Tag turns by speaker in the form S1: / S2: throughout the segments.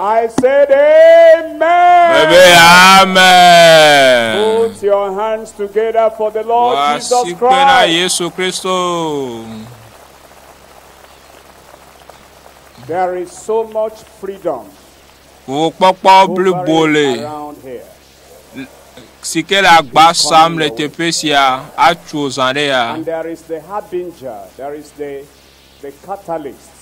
S1: I said amen. Bebe amen.
S2: Put your
S1: hands together for the Lord Wa Jesus si kpe na Christ. Yesu Kristo. There is so much freedom Ŋukpɔkpɔ blibo
S2: hovering le around here. si ke le agba sam le teƒe sia atso zã ɖe ya. And there is the
S1: harbinger, there is the, the catalyst.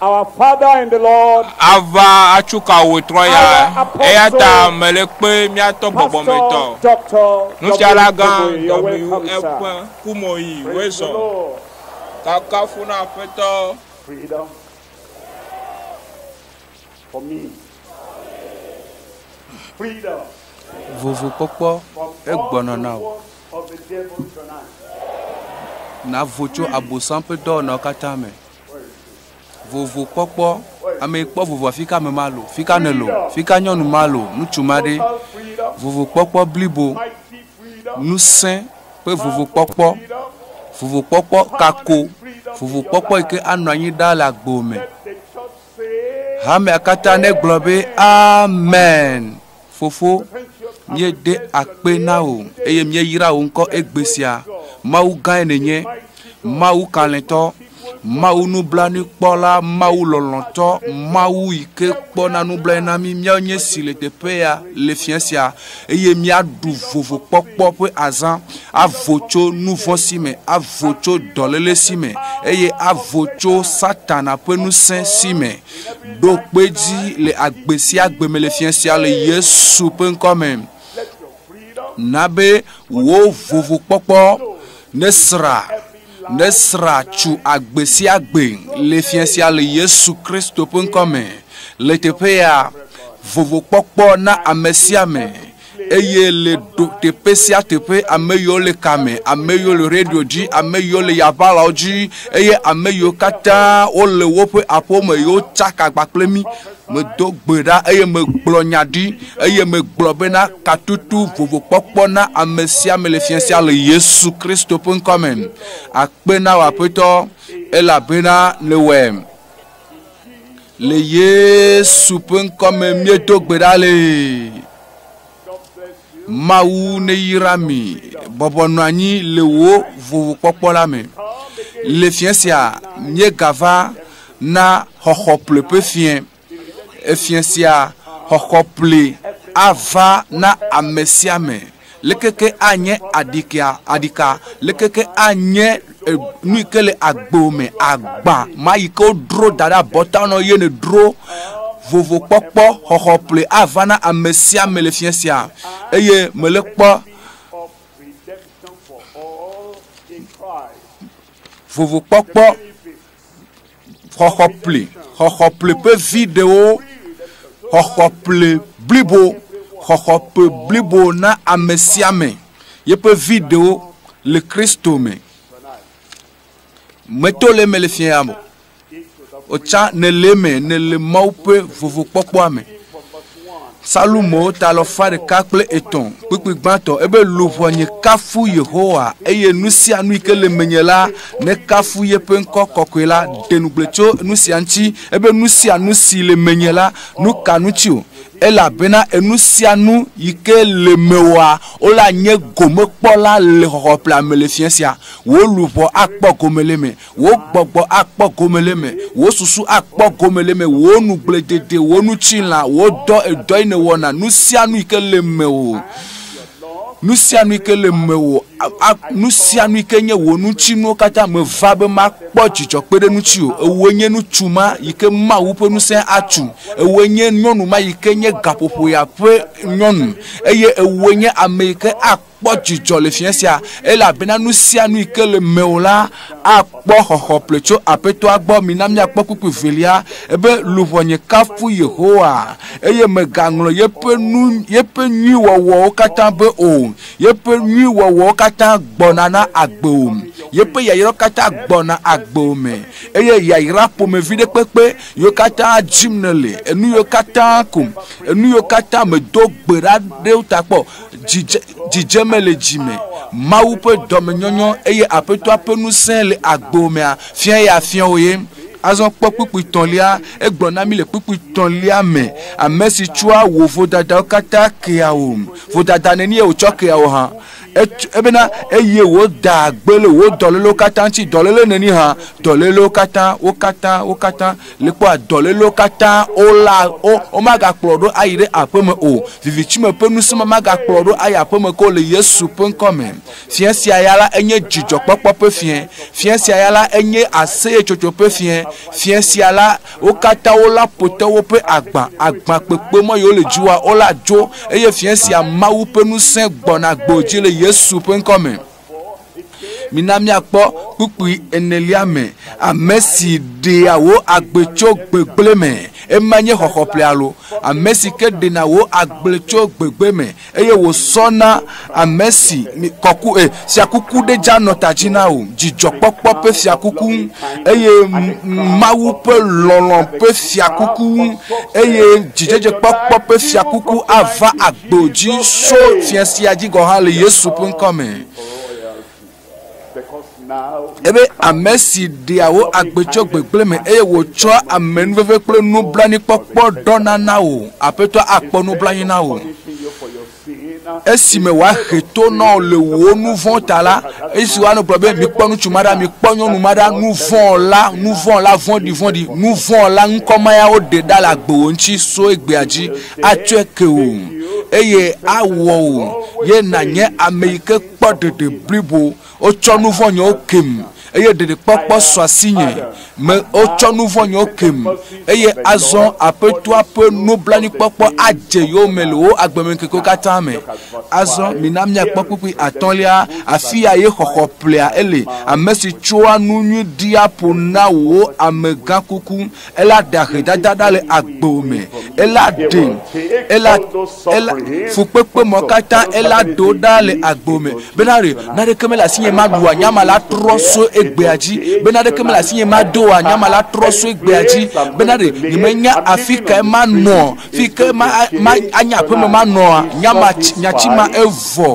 S2: Our Father
S1: in the Lord, ava atsu
S2: ka wò trɔ ya, eya ta mele kpe míatɔ gbɔgbɔmetɔ, nufiala gã WFe Kumoyi Wilson, kafukafu na Aƒetɔ. Freedom
S1: for me. Freedom. Vovo
S3: kpɔkpɔ egbɔnɔ na wò. Navo tso abosan ƒe dɔwɔnawo katã me. Vovo kpɔkpɔ, ame kpɔ vovoa fika ame ma lo, fika ne lo, fika nyɔnu ma lo, ŋutsu ma ɖe. Vovo kpɔkpɔ blibo, ŋusẽ ƒe vovo kpɔkpɔ, vovo kpɔkpɔ kako, vovo kpɔkpɔ yi ke anɔ anyi ɖa le agbo me. Hamea katã ne gblɔ be amen. Fofo, míeɖe akpe na wò eye míeyra wò ŋkɔ egbe sia. Mawu gãe nènye, Mawu kalẽtɔ, Mawu nublanuikpɔla, Mawu lɔlɔ̃tɔ, Mawu yi ke kpɔna nublanui na mí. Míawo nye si le teƒea le fiẽ sia eye míaɖu vovokpɔkpɔ ƒe azã, avo tso nu vɔ̃ si me, avo tso dɔléle si me eye avo tso Satana ƒe ŋusẽ si me. Ɖo kpe dzi le agbe sia agbe me le fia sia le Yesu ƒe ŋkɔ me. Na be wò vovokpɔkpɔ nesra nesra tso agbe sia agbe le fia sia le Yesu Kristo ƒe ŋkɔ me. Le teƒe ya vovokpɔkpɔ na ame sia ame. eye le ɖo teƒe sia teƒe ame yiwo le kame ame yiwo le radio dzi ame yiwo le yaʋalawo dzi eye ame yiwo katã wole woƒe aƒewo me yiwo tsaka agba kple mí medo gbe ɖa eye megblɔ nya ɖi eye megblɔ bena katutu vovokpɔkpɔ na ame sia ame le fia sia le yesu kristo ƒe ŋkɔ me akpe na wò aƒetɔ elabena nèwɔe Le Yesu ƒe ŋkɔ me míedo gbe ɖa le Mawu neyra mi bɔbɔ nɔ anyi le wò vovokpɔkpɔ la me. Le fiẽ sia míegava na xɔxɔ ƒle ƒe fiẽ. Efiẽ sia xɔxɔ ƒle ava na ame sia ame. Leke ke anye aɖikea, aɖika? Leke ke anye e, nu yi ke le agbo me, agba ma yi ke wodro da ɖe abɔta nɔ ye nedro vovokpɔkpɔ xɔxɔ ƒle ava na ame sia ame le fia sia eye mele kpɔ vovokpɔkpɔ xɔxɔple xɔxɔple ƒe vi ɖewo xɔxɔƒle blibo xɔxɔƒe blibo na ame sia ame yeƒe vi ɖewo le kristo me meto le me le fiã mo otsã nele me nele mawu ƒe vovokpɔkpɔa me Salomo ta alɔfa ɖeka kple etɔ̃ kpukpui gbãtɔ ebe luʋɔ nye kafu Yehowa eye nu sia nu yi ke le menye la nekafu yeƒe ŋkɔ kɔkɔe la ɖe nugble tso nu sia ŋuti ebe nu sia nu si le menye la nu ka nu tsi o elabena enu sia nu yi ke le mewɔa wole anye gomekpɔla le xɔxɔ ƒlea me le fiẽ sia wò luʋɔ akpɔ gome le me Wò gbɔgbɔ akpɔ gome le eme, wò susu akpɔ gome le eme, wò nugblẽdede, wò nutilã, wò dɔ, edɔ yi nèwɔna, nu sia nu yi ke le mewò, nu sia nu yi ke le mewò, nu sia nu yi ke nye wò nutsinuwo katã, meva be makpɔ dzidzɔ kpe ɖe ŋutiwò. Ewòe nye ŋutsu ma yi ke Mawu ƒe ŋusẽ atu, ewòe nye nyɔnu ma yi ke nye gaƒoƒoya ƒe nyɔnu, eye ewòe nye ame yi ke akpɔ. kpɔ dzidzɔ le fiẽ sia, elabena nu sia nu yi ke le mewò la akpɔ xɔxɔ ple tso Aƒetɔa gbɔ. Mina míakpɔ kpukpui velia be, Luʋɔnye kafu Yehowa, eye mègaŋlɔ yeƒe nu, yeƒe nyui wɔwɔwo katã be o. Yeƒe nyui wɔwɔwo katã gbɔna na agbewò, yeƒe yayrawo katã gbɔna agbewò me, eye yayra ƒomevi ɖe kpekpe yiwo katã dim nèle, enu yiwo katã ko, enu yiwo katã mèdo gbe ɖa ɖe wo ta kpɔ. Dzidze, dzidzeme le dzi me. Mawu ƒe dɔmenyɔnyɔ eye Aƒetɔa ƒe ŋusẽ le agbo mea fia ye afia wò ye. Azɔ kpɔ kpukpui tɔ̃lia. Egblɔ na mí le kpukpui tɔ̃lia me, ame si tsɔa wò vodadawo katã kea wò. Vodada nenie wòtsɔ kea wò hã? Ebena, eye wòdaa gbe le wò dɔlélewo katã ŋuti. Dɔléle nenie hã? Dɔlélewo katã, wo katã, wo katã. li kpɔa dɔlélewo katã wola wo womagakplɔ ɖo ayi ɖe aƒeme o vivitsi me ƒe nusẽ magakplɔ ɖo ayi aƒeme ko le yesu ƒe ŋkɔ me fiẽ sia ya la enye dzidzɔkpɔkpɔ ƒe fiẽ fiẽ sia ya la enye aseyetsotso ƒe fiẽ fiẽ sia la wo katã wola potɔ woƒe agbã agbã kpekpe mɔ yewo le dziwoa wola dzo eye fiẽ sia mawu ƒe nusẽ gbɔna gbɔ dzi le yesu ƒe ŋkɔ me Mina míakpɔ kpukpui enelia me ame si ɖea wò agbe tso gbegblẽ me. Ema nye xɔxɔ ƒe alo ame si ke ɖena wò agbe tso gbegbe me eye wòsɔna ame si kɔku e eh, fiakuku ɖe dza nɔ ta dzi na wò, dzidzɔkpɔkpɔ ƒe fiakuku eye Mawu ƒe lɔlɔ̃ ƒe fiakuku eye dzidzedzekpɔkpɔ ƒe fiakuku ava agbe. do dzi so fia sia dzi gɔ̃ hã le Yesu ƒe ŋkɔ me. Ebe ame si ɖea wo agbe tso gbegblẽ me eye wòtsɔa amenuveve kple nublanuikpɔkpɔ ɖɔna na wò aƒetɔ akpɔ nublanui na wò. Esime wòahe to na wò le wò nu vɔ̃ ta la, esi woanɔ gblɔ be mikpɔ ŋutsu ma ɖa, mikpɔ nyɔnu ma ɖa, nu vɔ̃ la, nu vɔ̃ la vɔ̃ɖi vɔ̃ɖi, nu vɔ̃ la ŋkɔmayawo ɖe ɖa le agbewò ŋuti so egbea dzi. atsɔe ke wò, eye awɔ wò ye nànye ame yi ke kpɔ ɖeɖe blibo. Wotsɔ nu vɔ̃ nyɔwo kem, eye ɖeɖekpɔkpɔ sɔ asinye. Me, wotsɔ nu vɔ̃ nyɔwo kem, eye azɔ Aƒetɔa ƒe nublanuikpɔkpɔ adze yewo me le wo agbemeŋkekewo katã me. Azɔ mina míakpɔ kpukpui atɔ̃lia, afia ye xɔxɔ ƒlea ele, ame si tsɔa nu nyui ɖia ƒo na wòwo amegãkuku. ela ɖe ahedada ɖa le agbo me, ela ɖe, ela, ela fukpekpe mɔ katã, ela ɖo ɖa le agbo me. Bena ɖe naɖeke mele asinye maɖu anyama la trɔ so egbea dzi, bena ɖeke mele asinye mado anyama la trɔ so egbea dzi, bena ɖe nyemenya afi kae manɔ fi ke ma ma anya aƒeme ma nɔa nyama nyatsi ma evɔ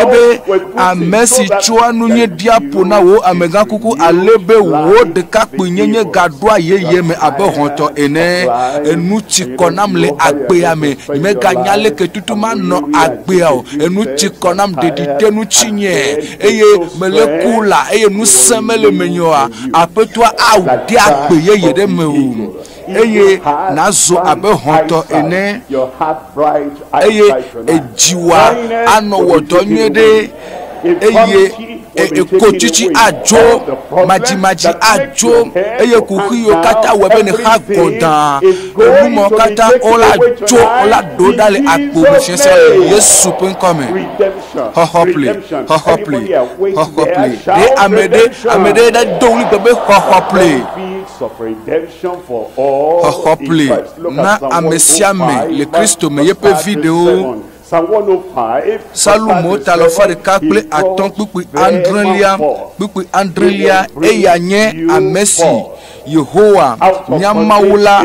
S3: ebe ame si tsɔa nu nye ɖia ƒo na wò amegã kuku ale be wò ɖekakpui nyenye gaɖoa yeye me abe hɔtɔ ene enu tsi kɔ nam le agbea me nyemeganya leke tutu manɔ agbea o enu tsi kɔ nam ɖeɖi te nu tsi nye eye mele ku la eye nu se mele menye oa aƒetɔa awu ɖe agbe yeye ɖe me o eye nàzu abe hɔ̃tɔ ene, eye dziwò anɔ wɔ dɔ nyuie ɖe, eye ekotsitsi adzo, madzimadzi adzo, eye kuxiwo katã wɔ be nèxa gɔdaa, enumɔwo katã wola dzo, wola ɖo ɖa le agbo me sese le Yesu ƒe ŋkɔ me. Xɔxɔ pli, xɔxɔ pli, xɔxɔ pli. Ɖe ame ɖe, ame ɖe ɖe do ɣli gbe be xɔxɔ pli. Xɔxɔ ƒli na amesiame le Kristo me yeƒe viɖewo Psalmo ta le fa ɖeka kple atɔ̃ kpukpui adrelia kpukpui adrelia eya nye ame si Yehowa nya Mawu la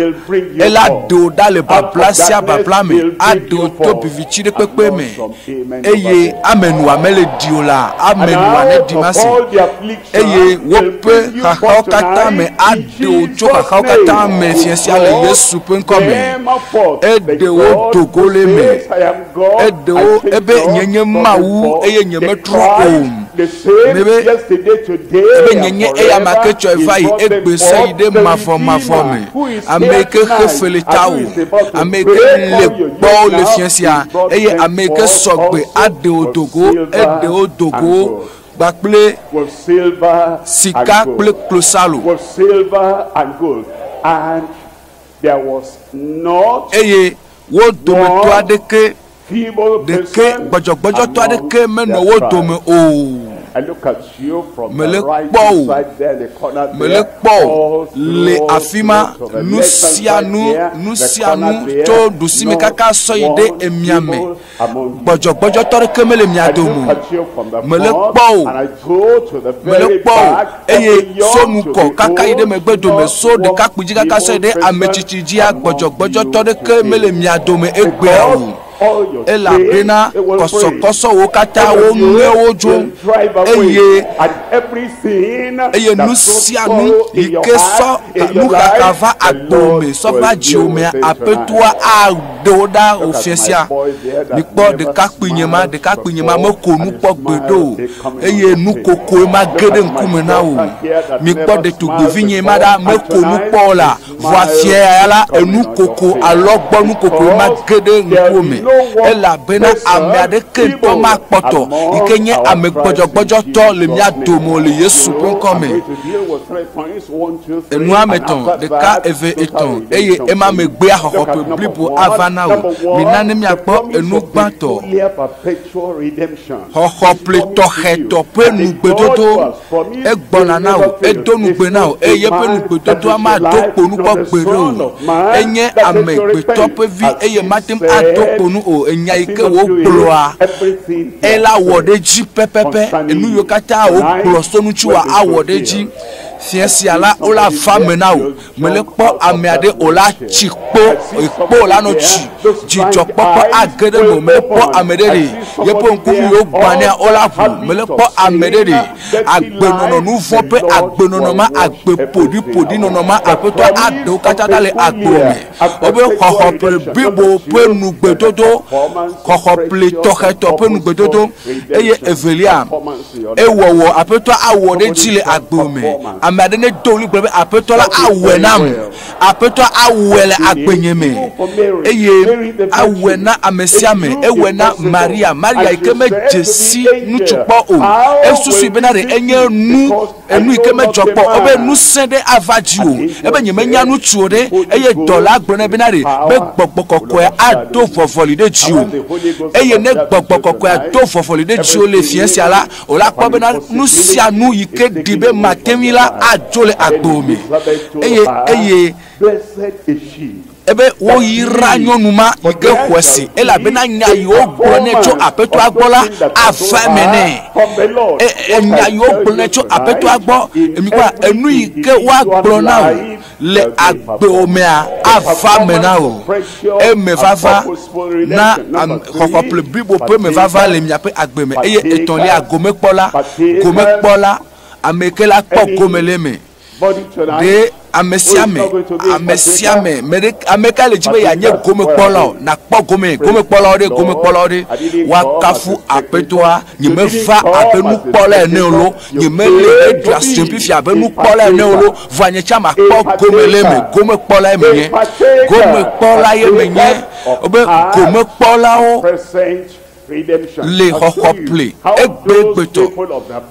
S3: ela do ɖa le babla sia babla me ado to vivitsi ɖe kpekpe me eye ame nua mele ɖi o la, ame nua neɖi masi, eye woƒe xaxawo katã me aɖo tso xaxawo katã me fia sia le Yesu ƒe ŋkɔ me. Eɖewo do go le me, eɖewo ebe nye nye Mawu eye nyemetrɔ o. Nɛ be, ebe nye nye eya ma ke tsɔe va yi egbe sɔ yi ɖe mavɔ mavɔ me, ame yi ke xe feli ta wò, ame yi ke le gbɔ le fia sia, eye ame yi ke sɔ gbe aɖe wò do go, eɖe wo do go kpakple sika kple klosalo.
S1: Eye wo
S3: dometɔ aɖeke. ɖeke gbɔdzɔgbɔdzɔtɔ
S1: aɖeke
S3: menɔ wo dome o.
S1: Mele kpɔ o, mele kpɔ o, le
S3: afi ma nu sia nu, nu sia nu tso ɖusime kaka sɔ yi ɖe emia me. Gbɔdzɔgbɔdzɔtɔ aɖeke mele mia dome o. Mele kpɔ o. Mele kpɔ o, eye so nu kɔ kaka yi ɖe megbe dome, so ɖekakpui dzi kaka sɔe ɖe ametsitsi dzia, gbɔdzɔgbɔdzɔtɔ ɖeke mele mia dome egbea o. Elabena kɔsɔkɔsɔwo katã wo ŋue wodzo, eye, eye nu sia nu yi ke sɔ nuxaxa va agbo me, sɔ va dziwò mea, Aƒetɔa awu. Ɖe wo ɖa o fiafia. Mikpɔ ɖekakpuinye ma, ɖekakpuinye ma meko nu kpɔ gbeɖe o, eye nu kokoe ma ge ɖe ŋkume na wò. Mikpɔ ɖetugbuivinye ma ɖa, meko nu kpɔ o la, vɔ afiae la, enu koko, alɔgbɔnu kokoe ma ge ɖe ŋkuwò me. Elabena ame aɖeke ŋutɔ makpɔtɔ, yi ke nye ame gbɔdzɔgbɔdzɔtɔ le mía dome o le Yesu ƒe ŋkɔ me. Enua me tɔ̃, ɖeka, eve, etɔ̃, eye ema megbea xɔxɔƒe blibo ava na wò. Mina ne míakpɔ enu gbãtɔ, xɔxɔple tɔxɛtɔ ƒe nugbedodo. Egbɔna na wò, edo nugbe na wò, eye eƒe nugbedodoa mado kpo nu kpɔ gbeɖe o. Enye amegbetɔ ƒe vi, eye mate ŋu ado kpo nu o. Enya yi ke wògblɔa, ela wɔ ɖe edzi pɛpɛpɛ. Enu yiwo katã wògblɔ so ŋutiwòa, awɔ ɖe edzi. Fiẽ sia la, wole afa me na wò. Mele kpɔ ame aɖe o la tsi kpo, ekpo la nɔ tsi. Dzidzɔkpɔkpɔ age ɖe me. Mele kpɔ ame ɖe ɖe. Yeƒe ŋku mi wo gbania o la ƒo. Mele kpɔ ame ɖe ɖe. Agbenɔnɔ nu vɔ ƒe agbenɔnɔ ma, agbe ƒoɖi ƒoɖi nɔnɔ ma, aƒetɔ aɖewo katã ɖa le agbe me. Wobe xɔxɔ ƒe blibo ƒe nugbedodo, xɔxɔ ƒe tɔxɛ tɔ ƒe nugbedodo. Eye evelia, Ewɔwɔ, Aƒetɔa awɔ ɖe edzi le agbe me. Ame aɖe nedo ɣli gblɔ be, Aƒetɔ la awɔe nam. Aƒetɔa awɔe le agbenye me. Eye awɔe na amesiame. Ewɔe na Maria. Maria yi ke medze si ŋutsu kpɔ o, esusui bena ɖe enye nu enu yi ke medzɔ kpɔ o be ŋusẽ ɖe ava dziwò ebe nyemenya nu tso ɖe eye dɔla gblɔ nɛ bena ɖe be gbɔgbɔ kɔkɔe ado vɔvɔli ɖe dziwò eye ne gbɔgbɔ kɔkɔe ado vɔvɔli ɖe dziwò le fiẽ sia la o la kpɔ bena nu sia nu yi ke ɖi be matewi la adzo le agbo me eye eye Ebe woyra nyɔnu ma yi ke xɔe se, elabena nya yi wogblɔ nɛ tso Aƒetɔa gbɔ la ava eme nɛ. E, e, nya yi wogblɔ nɛ tso Aƒetɔa gbɔ, emikpɔa, enu yi ke woagblɔ na wò le agbewò mea ava eme na wò. Eme vava na xɔxɔple blibo ƒe me vava le miaƒe agbe me. Eye etɔ̃lia, gomekpɔla, gomekpɔla, ame yi ke la kpɔ gome le eme. Ɖe ame sia ame, ame sia ame, ame ka le dzi be yeanye gomekpɔla o, nakpɔ gome, gomekpɔlawo ɖe, gomekpɔlawo ɖe, woakafu aƒetɔa, nyemeva abe nukpɔla ene o lo, nyemele eɖu asi fifi abe nukpɔla ene o lo, vɔa nye tsã makpɔ gome le eme, gomekpɔla ye menye, gomekpɔla ye menye, wobe gomekpɔlawo le xɔxɔ ple egbegbetɔ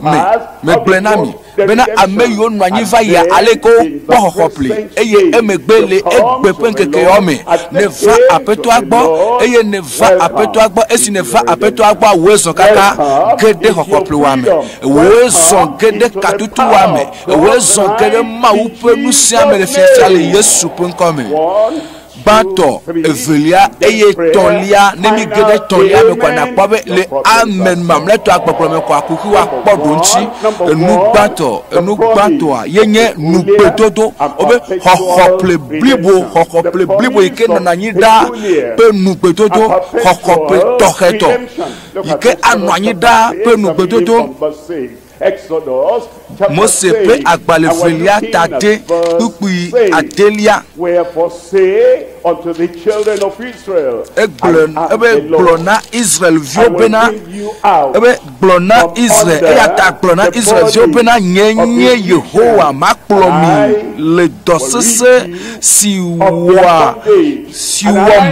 S3: me. Megblɔe na mi bena ame yiwo nɔ anyi va yia ale ke wokpɔ xɔxɔ ple eye emegbe le egbe ƒe ŋkekeawo me nèva Aƒetɔa gbɔ eye nèva Aƒetɔa gbɔ esi nèva Aƒetɔa gbɔ awòe zɔ katã ge ɖe xɔxɔ plewoa me. Ewòe zɔ ge ɖe katutuwoa me. Ewòe zɔ ge ɖe Mawu ƒe nu sia me le fiafia le Yesu ƒe ŋkɔ me. gbãtɔ, evelia, eye tɔlia, ne mi ge ɖe tɔlia me kɔa, nakpɔ be le amen mamlɛtɔa kpɔkplɔ me kɔa, kuku wa kpɔ ɖo ŋuti. Enu gbãtɔ, enu gbãtɔa, ye nye nugbedodo, wobe xɔxɔ ple blibo, xɔxɔ ple blibo yi ke nɔna anyi ɖa ƒe nugbedodo, xɔxɔ ple tɔxɛtɔ yi ke anɔ anyi ɖa ƒe nugbedodo. Mose ƒe agbalẽvelia tate kpukpui adelia. Egblɔ ebe gblɔ na Israelviwo bena ebe gblɔ na Israel eya ta gblɔ na Israelviwo bena nye nye Yehowa makplɔ mi le dɔ sesẽ si wɔa si wɔm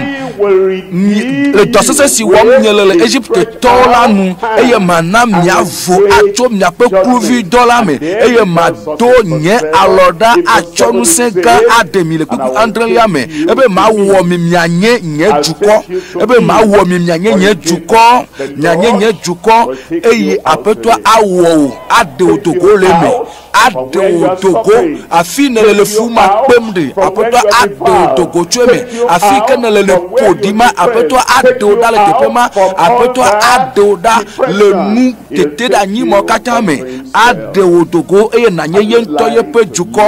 S3: le dɔ sesẽ si wɔm miele le Egiptetɔwo la nu, eye mana miavo atso miaƒe kluvidɔ la me, eye mado nye alɔ ɖa atsɔ ŋusẽ gã aɖe mi le kpukpu adrelia me, ebe mawɔ mi mianye nye dukɔ, ebe mawɔ mi mianye nye dukɔ, mianye nye dukɔ, eye Aƒetɔa awɔ wò, aɖe wò do go le eme. aɖe wò do go afi nèle le fu ma kpem ɖi aƒetɔ aɖe wò do go tso eme afi ke nèle le ƒo ɖi ma aƒetɔ aɖe wò ɖa le teƒe ma aƒetɔ aɖe wò ɖa le nu tete ɖe anyi mɔ katã me aɖe wò do go eye nànye ye ŋutɔ yeƒe dukɔ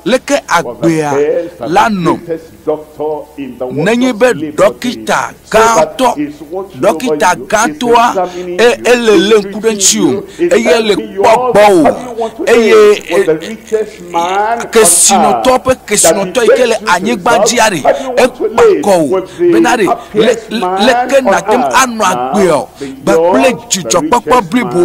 S3: leke agbea la nɔ Nenye be ɖɔkita gãtɔ, ɖɔkita gãtɔa, e, ele lé ŋku ɖe ŋuti o, eye ele kpɔ gbɔ o, eye e, kesinɔtɔ ƒe kesinɔtɔ yi ke le anyigba dzia ɖe, ekpa kɔ o, bena ɖe, leke nàte ŋu anɔ agbeɔ, kpakple dzidzɔkpɔkpɔ blibo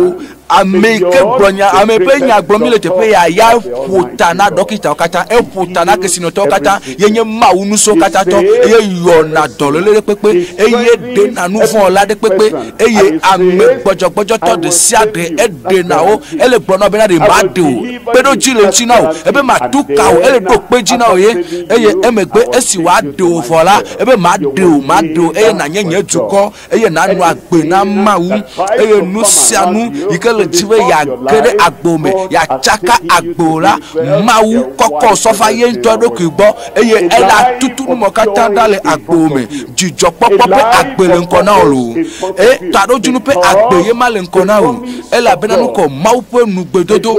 S3: Ame yi ke gblɔ nya, ame ƒe nya gblɔ mi le teƒe ya, ya ƒo ta na ɖɔkitawo katã, eƒo ta na kesinɔtɔwo katã, yenye Mawu nusɔ katã tɔ, eye yɔna dɔléle ɖe kpekpe, eye ɖena nu vɔ̃ la ɖe kpekpe, eye ame gbɔdzɔgbɔdzɔtɔ ɖe sia ɖe eɖena wo, ele gblɔ na bena ɖe maɖe o, kpeɖodzi le ŋuti na o, ebe matu ka o, ele ɖo kpe dzi na o ye, eye emegbe esi wòaɖe o vɔ la, ebe maɖe o, maɖe o, eye nànye nye dukɔ. eye nanɔ agbe na Mawu, eye nu sia nu yi ke le dzi be yeage ɖe agbe me, yeatsaka agbe o la, Mawu kɔkɔ sɔ va ye ŋutɔ eɖokui gbɔ, eye ele atutu nu mawo katã ɖa le agbe me. Dzidzɔkpɔkpɔ ƒe agbe le ŋkɔ na wò loo. E, taɖodzinu ƒe agbe ye ma le ŋkɔ na wò. elabena nu kɔ Mawu ƒe nugbedodo.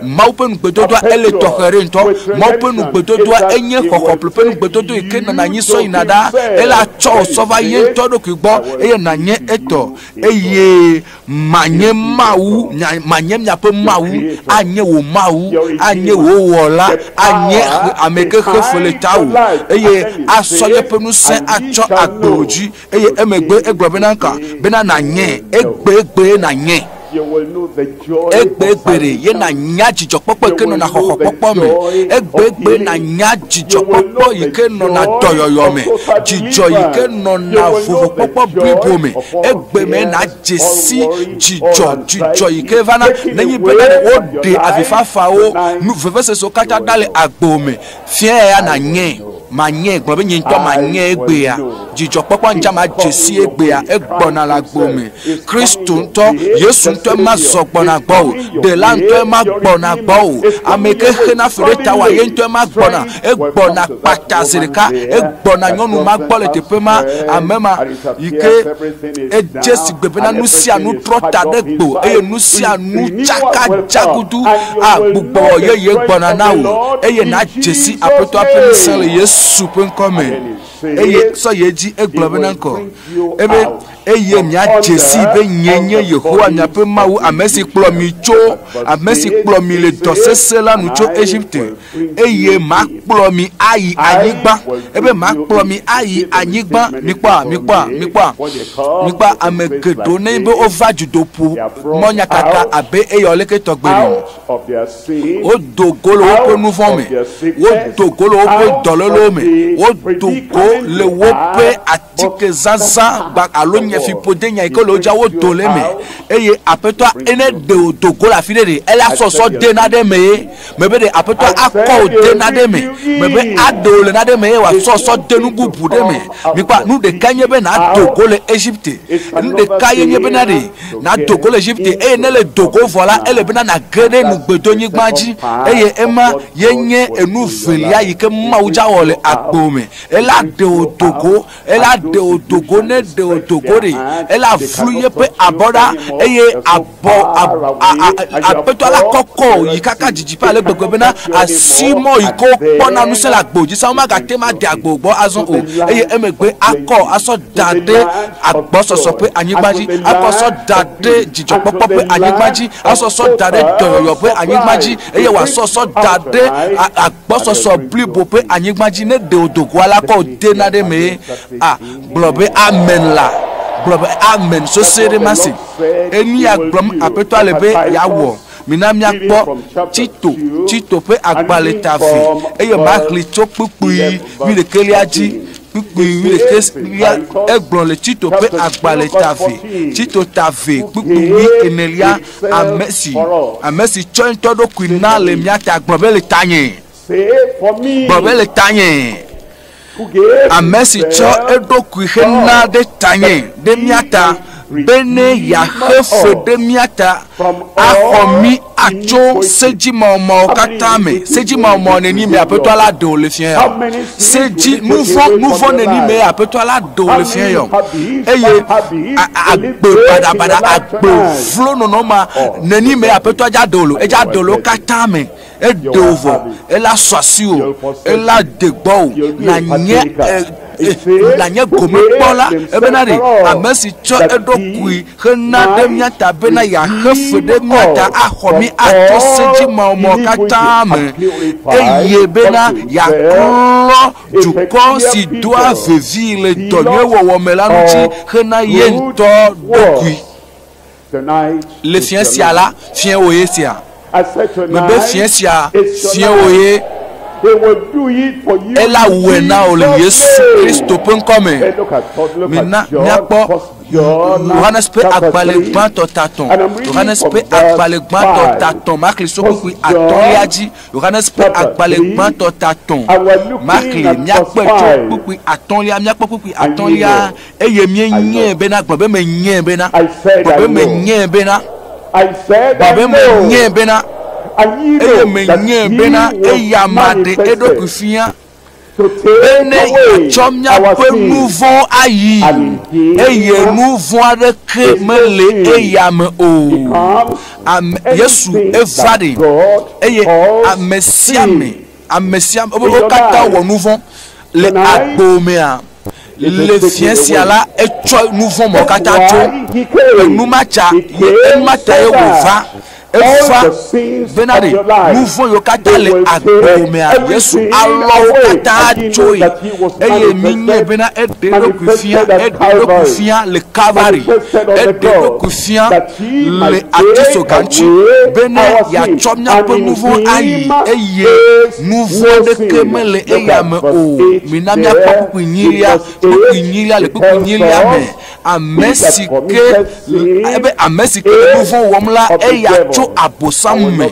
S3: Mawu ƒe nugbedodoa ele tɔxɛ ɖe ŋutɔ. Mawu ƒe nugbedodoa enye xɔxɔplu ƒe nugbedodo yi ke nana anyi sɔ yina ɖa. Ele atsɔ wò sɔ va ye ŋutɔ ɖokui gbɔ eye nànye etɔ eye manye Mawu, manye miaƒe Mawu, anye wò Mawu, anye wò wɔla, anye ame ke xe fe le tawò eye asɔ yeƒe ŋusẽ atsɔ agbe wò dzi. eye emegbe egblɔ bena ka bena nanye egbegbe nanye egbegbe ɖe ye nanya dzidzɔkpɔkpɔ yi ke nɔna xɔxɔkpɔkpɔ me egbegbe nanya dzidzɔkpɔkpɔ yi ke nɔna dɔyɔyɔ me dzidzɔ yi ke nɔna vovokpɔkpɔ blibo me egbeme nadze si dzidzɔ dzidzɔ yi ke vana nenye bena ɖe woɖe avifafawo nu vevesesewo katã ɖa le agbo me Fiae ya nanyee, manyee, gblɔ be nye ŋutɔ manyee egbea. Dzidzɔkpɔkpɔ ŋuti ma dze si egbea, egbɔna le agbo me. Kristo ŋutɔ, Yesu ŋutɔ ema zɔ gbɔna gbɔ o, ɖela ŋutɔ ema gbɔna gbɔ o, ame ke xena fe ɖe ta wa ye ŋutɔ ema gbɔna, egbɔna kpata zi ɖeka, egbɔna nyɔnu ma gbɔ le teƒe ma, ame ma. yi ke edze sigbe bena nu sia nu trɔ ta ɖe gbo eye nu sia nu tsaka dzagudu agbugbɔ yeye gbɔna na wò eye nadze si aƒetɔa ƒe ŋusẽ le yesu ƒe ŋkɔ me eye sɔ ye dzi egblɔ bena ŋkɔ ebe eye miadze si be nye nye yehowa miaƒe mawu ame si kplɔ mi tso ame si kplɔ mi le dɔ sesẽ la nu tso egipte eye makplɔ mi ayi anyigba ebe makplɔ mi ayi anyigba mikpɔa mikpɔa mikpɔa mikpɔa ame geɖewo ne be wova dzodoƒo mɔ nyakaka abe eya leke tɔgbe ni wodo go le woƒe nu vɔ̃ me wodo go le woƒe dɔlélo me wodo go le woƒe Tikezaza gba alo nyefiƒode nya yi ke le wo dzia wodo le eme eye aƒetɔa ene ɖe o do go le afi ɖe ɖe ele asɔsɔ de naɖe me ye me be ɖe aƒetɔa akɔ o de naɖe me me be aɖe o le naɖe me ye wòasɔsɔ de nu bubu ɖe me mikpa nu ɖeka nye be nado go le Egypte nu ɖeka ye nye bena ɖe nado go le Egypte eye ne le do go vɔ la ele bena nage ɖe nugbedonyigba dzi eye ema ye nye enu velia yi ke Mawu dza wɔ le agbo me ela ɖe wò dogo ela ɖe wò dogo ne ɖe wò dogo ɖi ela flu yeƒe abɔ ɖa eye abɔ aƒetɔ la kɔkɔ yi kaka dzidzi ƒe ale gbegbe bena asi mɔ yi ko kpɔna ŋusẽ le agbo dzi sa womagate ma de agbo gbɔ azɔ o eye emegbe akɔ asɔ da ɖe agbɔsɔsɔ ƒe anyigba dzi akɔ sɔ da ɖe dzidzɔkpɔkpɔ ƒe anyigba dzi asɔ sɔ da ɖe dɔyɔyɔ ƒe anyigba dzi eye wòasɔ sɔ da ɖe Gbɔsɔsɔ blibo ƒe anyigba dzi ne ɖeo dogoa la kɔ de naɖe mee a gblɔ be amen la gblɔ be amen sosɔe ɖe masi enia gblɔm apetɔa le be yeawɔ mina miakpɔ tito tito ƒe agbalẽ ta vi eye maxli tso kpukpui wi ɖeke lia dzi kpukpui wi ɖeke lia egblɔ le tito ƒe agbalẽ ta vi tito ta vi kpukpui wi enelia ame si ame si tsɔe ŋutɔ ɖokui na le mía ta gblɔ be le tanye gblɔ be le tanye ame si tsɔ eɖokui xe na ɖe tanye ɖe mía ta be ne yeaxe fe ɖe mía ta axɔ mí atso sedzimawɔmawɔ katã me sedzimawɔmawɔ neni me aƒetɔ la ɖe wòle fia ya Se dzi nuvɔ nuvɔ neni me apetɔ la do le fiɛ yɔ eye agbe badabada agbe vlo nɔnɔ ma neni me apetɔ dza dolo edza dolo katã me edo vɔ ela sɔ asi o ela degbɔ o na nye e, e, na nye gome kpɔla ebena ɖe ame si tsɔ eɖokui hena ɖe mía ta bena yeaxe fe ɖe mía ta axɔ mí ato se dzimawɔmawɔ katã me, eye bena yeaklɔ dukɔ si doa vevii le dɔ nyui wɔwɔ me la ŋuti hena ye ŋutɔ ɖokui. Le fiẽ sia la, fiẽ wòye sia. mebe fiẽ sia fiẽ wò ye ela wue na wò le yesu kristo ƒe ŋkɔ me mina míakpɔ yohanes ƒe agbalẽ gbãtɔ tatɔ yohanes ƒe agbalẽ gbãtɔ tatɔ makli sokukui atɔlia dzi yohanes ƒe agbalẽ gbãtɔ tatɔ makli míakpɔe tso kpukpui atɔlia míakpɔ kpukpui atɔlia Eye mienyae bena, gblɔ be menyae bena, gblɔ be menyae bena, gblɔ be menyae bena, eye menyae bena eya maɖe eɖokui fia bene yeatsɔ míaƒe nu vɔ̃ ayi, eye nu vɔ̃ aɖeke mele eya me o. Ame Yesu eva ɖi, eye ame sia ame, ame sia wo katã wɔ nu vɔ̃ le agbo mea. Le fiẽ sia la, etsɔ nu vɔ̃ mawo katã tso enu ma ta, enu ma ta ye wòva eva bena ɖe nu vɔ̃ yiwo katã le agbomea Yesu alɔ wo katã tsoe eye minyae bena eɖe eɖokui fia, eɖe eɖokui fia le Kalvari, eɖe eɖokui fia le atisoga ŋuti bene yeatsɔ míaƒe nu vɔ̃ ayi eye nu vɔ̃ aɖeke mele eya me o. Mina míakpɔ kpukpui nyilia. Kpukpui nyilia le kpukpui nyilia me. Ame si ke ebe ame si ke le nu vɔ̃ wɔm la eya tso abosam me.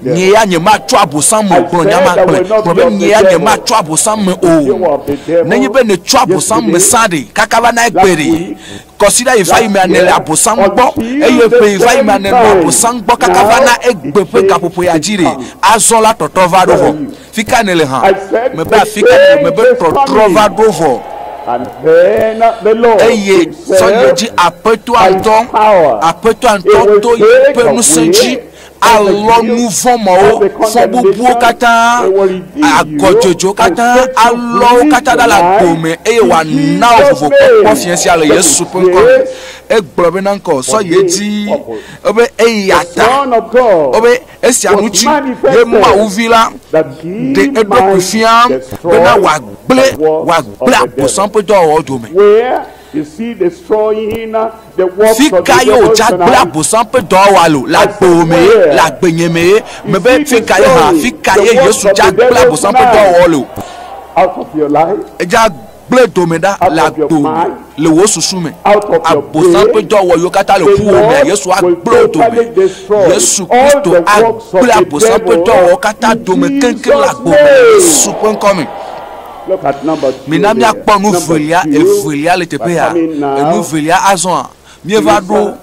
S3: Nye ya nyematso abosam me gblɔ nya ma gblɔe. Gblɔ be nye ya nyematso abosam me o. Nenye be nètso abosam me sa ɖe kaka va na egbe ɖe. kɔsiɖa yi va yi mea nele abosam gbɔ eye ƒe yi va yi mea nenɔ abosam gbɔ kaka va na egbe ƒe gaƒoƒo ya dzi ɖi azɔ la tɔtrɔ va ɖo vɔ fi ka nele hã mebe afi ka nele mebe tɔtrɔ va ɖo vɔ eye sɔyedzi aƒetɔa ŋutɔ aƒetɔa ŋutɔ to yi ƒe ŋusẽ dzi alɔ nu vɔ̃ mawo, fɔbubuwo katã, agɔdzodzowo katã, alɔwo katã ɖa le agbo me, eye wòana wò vovokpɔkpɔ fia sia le Yesu ƒe ŋkɔ me. Egblɔ be na ŋkɔ sɔ ye dzi, ebe eya ta, ebe esia ŋuti ye Mawu vi la ɖe eɖokui fia bena wòagblẽ, wòagblẽ Abosam ƒe dɔwɔwɔ dome. Fika ye wò dza gblẽ abosam ƒe dɔwɔwa lo? Le agbewò mee? Le agbenye mee? Mebe fika ye hã, fika ye Yesu dza gblẽ abosam ƒe dɔwɔwɔ lo? Edza gblẽ dome ɖa le agbewò me, le wò susu me. Abosam ƒe dɔwɔwɔ yiwo katã le ƒuwò mea, Yesu agblẽ wo dome. Yesu Kristo agblẽ abosam ƒe dɔwɔwɔ katã dome keŋkeŋ le agbewò me le Yesu ƒe ŋkɔ me. Mina míakpɔ nu velia evelia le teƒea. Enu velia azɔa, míeva ɖo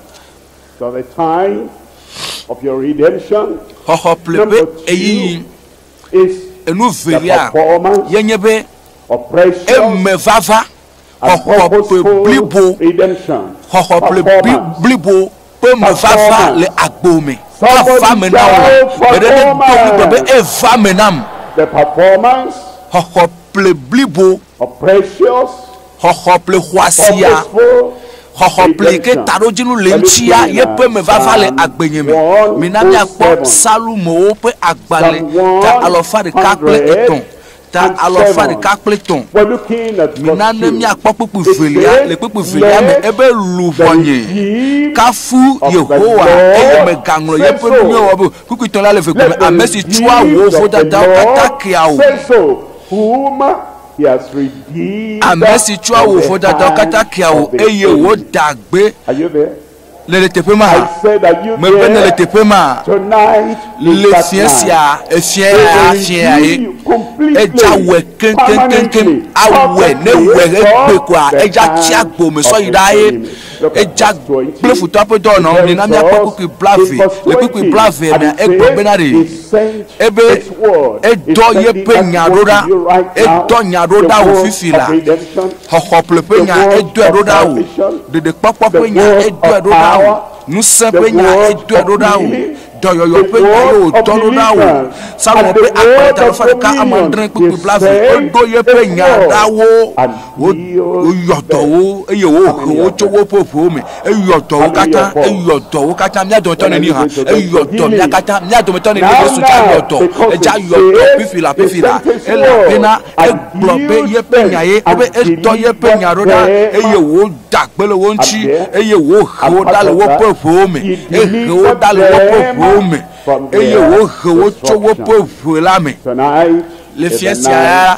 S3: xɔxɔ ƒle ƒe ɣeyiɣi. Enu velia ye nye be, emevava. xɔxɔ ƒe blibo xɔxɔ ƒe blibo ƒe mevava le agbo me vava me na wò la gbeɖe ne do ŋugbe be eva me nam xɔxɔ ƒe blibo xɔxɔ ƒe xɔasia xɔxɔ ƒe yi ke taɖodzinu le eŋutia yeƒe mevava le agbenye me mina míakpɔ psalmowo ƒe agbalẽ ga alɔfa ɖeka kple etɔ̃ ta alafa ɖeka kple etɔ̃. Mina ne míakpɔ kpukpui velia le kpukpui velia me ebe luʋɔnye kafu Yehowa eye megaŋlɔ yeƒe numewo abe kpukpui tɔ̃ la le eve gome, ame si tsɔa wò vodadawo katã kea wò.
S1: Ame si tsɔa wò
S3: vodadawo katã kea wò eye wòdaa gbe.
S1: Le le teƒe ma.
S3: Me
S1: be ne le teƒe ma. Le fiɛ
S3: sia, efiɛ ya, fiɛ ya ye. Edza wɛ keŋkeŋkeŋ. Awɛ, ne wɛ egbe kɔa, edza tia gbo me sɔ yi ɖa ye. Edza kple futɔ ƒe dɔ nɔ mi na mi akpɔ kpukpui blave. Le kpukpui blave mea, egblɔ bena ɖe. Ebe edɔ ye ƒe nya ɖo ɖa. Edɔ nya ɖo ɖa wò fifi la. Xɔxɔƒle ƒe nya edɔe ɖo ɖa o. Ɖeɖekpɔkpɔ ƒe nya edɔe ɖo ɖa o. Ŋusẽ ƒe nya edɔe ɖo ɖa o. Dɔyɔyɔ ƒe nya ye wòdɔ ɖo ɖa o. Psalmo ƒe akpata alafa ɖeka ame adre kpukpui blaeve woɖo yeƒe nya ɖa wo. Woyɔ dɔ wo eye wohe wo tso woƒe ʋuwo me. eyɔ dɔ wo katã eyɔ dɔ wo katã mía dometɔ neni hã eyɔ dɔ mía katã mía dometɔ neni yesu dza yɔ dɔ edza yɔ dɔ fifi la fifi la elabena egblɔ be yeƒe nya ye ebe etɔ yeƒe nya ɖo ɖa eye woda gbe le wo ŋuti eye wohe wo ɖa le woƒe ʋewo me ehe wo ɖa le woƒe ʋewo me eye wohe wo tso woƒe ʋe la me le fiasia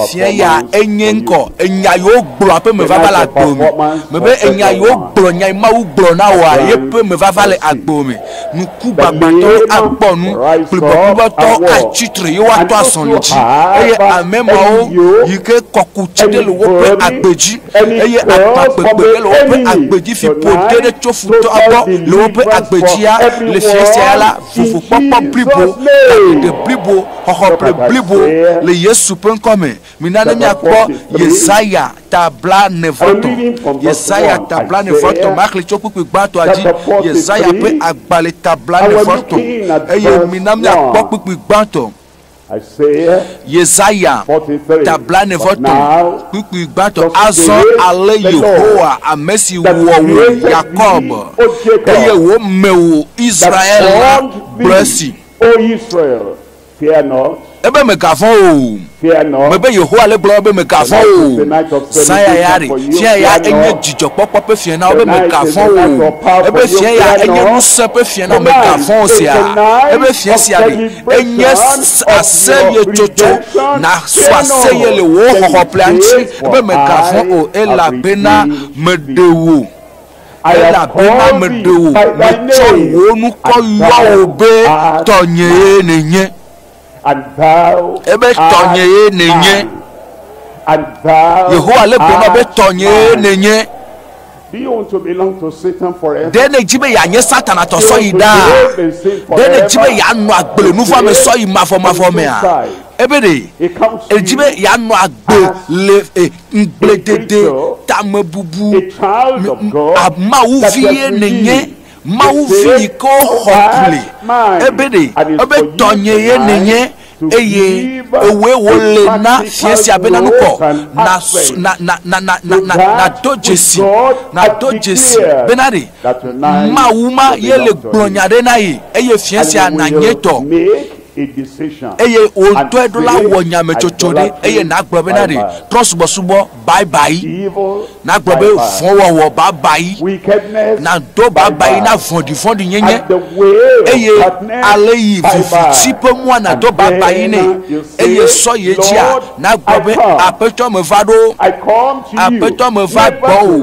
S3: Fia ya enye ŋkɔ. Enya yi wogblɔ aƒe me vava le agbo me. Mebe enya yi wogblɔ nya yi Mawu gblɔ na wòa ye ƒe me vava le agbo me. Nuku gbagbãtɔwo akpɔ nu, kplibɔkplibɔtɔwo atsi tre ye woatɔ azɔli dzi, eye ame mawo yi ke kɔku tsi ɖe le woƒe agbe dzi, eye agbagbegbe ɖe le woƒe agbe dzi, fi ƒoɖi ɖe tso futɔa gbɔ le woƒe agbe dzia, le fiasia ya la, Fufukpɔkpɔ blibo, kaɖiɖe blibo, xɔxɔple blibo le Yesu ƒe ŋkɔ me. Mina ne míakpɔ Yesaya ta blaenevɔtɔ̃. Yesaya ta blaenevɔtɔ̃ maxlẽe tso kpukpui gbãtɔa dzi. Yesaya ƒe agbalẽ ta blaenevɔtɔ̃, eye mina míakpɔ kpukpui gbãtɔ. Yesaya ta blaene-vɔ-tɔ̃ kpukpui gbãtɔ. Azɔ ale Yehowa, ame si wɔ wò Yakob, eye wòme wò Israel la gblɔ esi,
S1: Ebe mègavɔ̃ o,
S3: mebe Yehowa ale gblɔ be, Mègavɔ̃ o, zãya ya ɖe, fiã ya enye dzidzɔkpɔkpɔ ƒe fiẽ na wò, ebe mègavɔ̃ o, ebe fiẽ ya enye ŋusẽ ƒe fiẽ na wò, mègavɔ̃ o, sea, ebe fiẽ sia ɖe, enye aseye tsotso nàsɔ aseye le wò xɔxɔƒlea ŋuti be mègavɔ̃ o elabena meɖe wò elabena meɖe wò metsɔ wò ŋkɔ yɔ wò be tɔnyee nènye
S1: ebe tɔnyee
S3: nènye
S1: yehowa le gblɔm na be
S3: tɔnyee nènye.
S1: Ɖe nèdi be yeanye
S3: Satana tɔ sɔyi ɖaa? Ɖe nèdi be yeanɔ agbe le nuvɔ̃ame sɔyi mavɔmavɔ mea? Ebe ɖe! Èdi be yeanɔ agbe le ŋugbledede, tamebubu me. Mawu vie nènye. Mawu Vi yi ke woxɔ kple ebe ɖe ebe tɔnye ye nènye, eye èwɔe wòle na fia sia bena nu kɔ nasu, na, na, na, na, na, na, nado dzesi, nado dzesi bena ɖe Mawu ma ye le gblɔ nya ɖe na ye, eye fia sia nanye tɔ. Eye wò ŋutɔe ɖo la wɔ nyametsotso ɖe, eye nàgblɔ bena ɖe trɔ̃subɔsubɔ. babayi nagblɔ be vɔ̃wɔwɔ babayi nado babayi na vɔ̃ɖivɔ̃ɖinyenye eye ale yi viviti ƒe mua nado babayi nɛ eye sɔ ye dzia nagblɔ be aƒetɔ meva ɖo aƒetɔ meva gbɔ o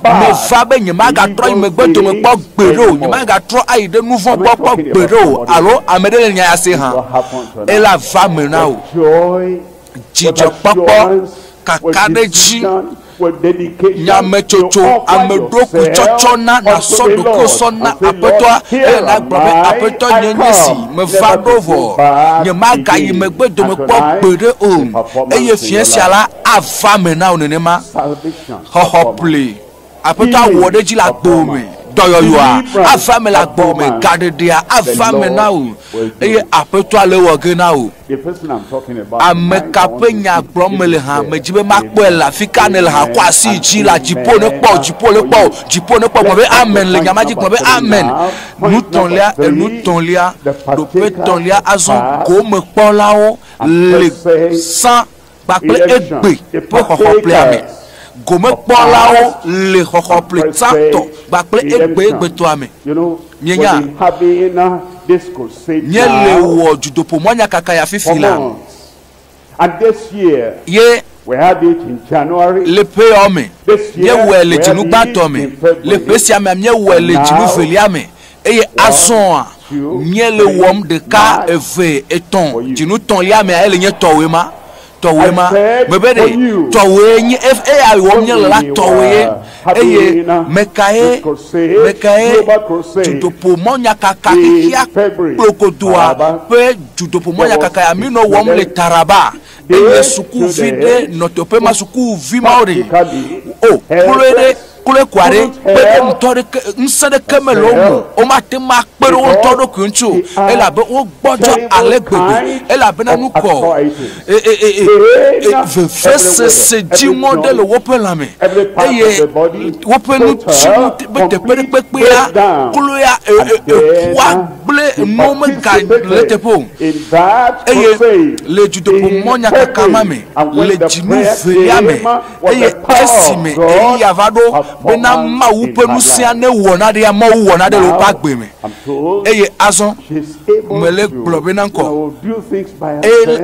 S3: meva be nyemagatrɔ yi megbe dome kpɔ gbeɖe o nyemagatrɔ ayi ɖe nu vɔ̃ gbɔ kpɔ gbeɖe o alo ame ɖe le nya ya se hã ela va me na o dzidzɔkpɔkpɔ, kakaɖedzi, nyametsotso, ameɖokuitsɔtsɔ na nàsɔ ɖokuiwò sɔ na Aƒetɔa, eye nàgblɔ be, Aƒetɔ, nyee nye esi, meva ɖo vɔ, nyemagayi megbe dome kpɔ gbeɖe o. Eye fiẽ sia la ava eme na wò nenema. Xɔxɔkplɔe. Aƒetɔ awɔ ɖe edzi le agbo me. Dɔyɔyɔa ava me le agbo me. Gaɖeɖea ava me na wò. Eye Aƒetɔa le ewɔ ge na wò. Ame ka ƒe nya gblɔm mele hã? Medi be makpɔe le afi ka nèle hã. Kɔ asi yi dzi la. Dziƒo nekpɔ wò. Dziƒo nekpɔ wò. Dziƒo nekpɔ wò. Gblɔ be, Amen le nya ma dzi. Gblɔ be, Amen. Nutɔ̃lia, enutɔ̃lia, ɖoƒetɔ̃lia, azɔ gomekpɔlawo le sã. kpakple egbe ƒe xɔxɔƒlea me. Gomekpɔlawo le xɔxɔƒle tsãtɔ kpakple egbe egbetɔa me. Mienya? Míele wɔ dzodoƒomɔ̃nyakakaya fifi la,
S1: ye le ƒeawo me,
S3: míewɔe le dzinu gbãtɔ me, le ƒe sia mea, míewɔe le dzinu velia me, Eye azɔa, míele wɔm ɖeka, eve, etɔ̃, dzinu tɔ̃lia mea, ele nye tɔwòe ma, tɔwòe ma. Mebe ɖe, tɔwòe nye, eya wɔm míele la, tɔwòe. Eye mekae, mekae dzodoƒo mɔnyakaka xexea kplokodoa ƒe dzodoƒo mɔnyakaka ya minɔ wɔm le Taraba? eye sukuvi ɖe nɔ teƒe ma sukuvi mawo ɖe o kloe ɖe kloe kua ɖe kpe ɖe ŋutɔ ɖeke ŋusẽ ɖeke mele wo me womate ŋu akpe ɖe wo ŋutɔ ɖokui ŋuti o elabe wogbɔdzɔ ale gbegbe elabena nu kɔ e, e, e, vevesese dziŋɔ ɖe le woƒe lãme eye woƒe ŋuti be teƒe ɖekpekpea kloea eƒua kple enuwo megale eteƒe o, eye le dzodoƒemɔnyakaka ma me, le dzinu velia me, eye esime ɣeyiɣia va ɖo bena Mawu ƒe ŋusẽa newɔ naɖea mɔwo wɔ naɖe le woƒe agbe me. Eye azɔ, mele gblɔ be naŋkɔ o,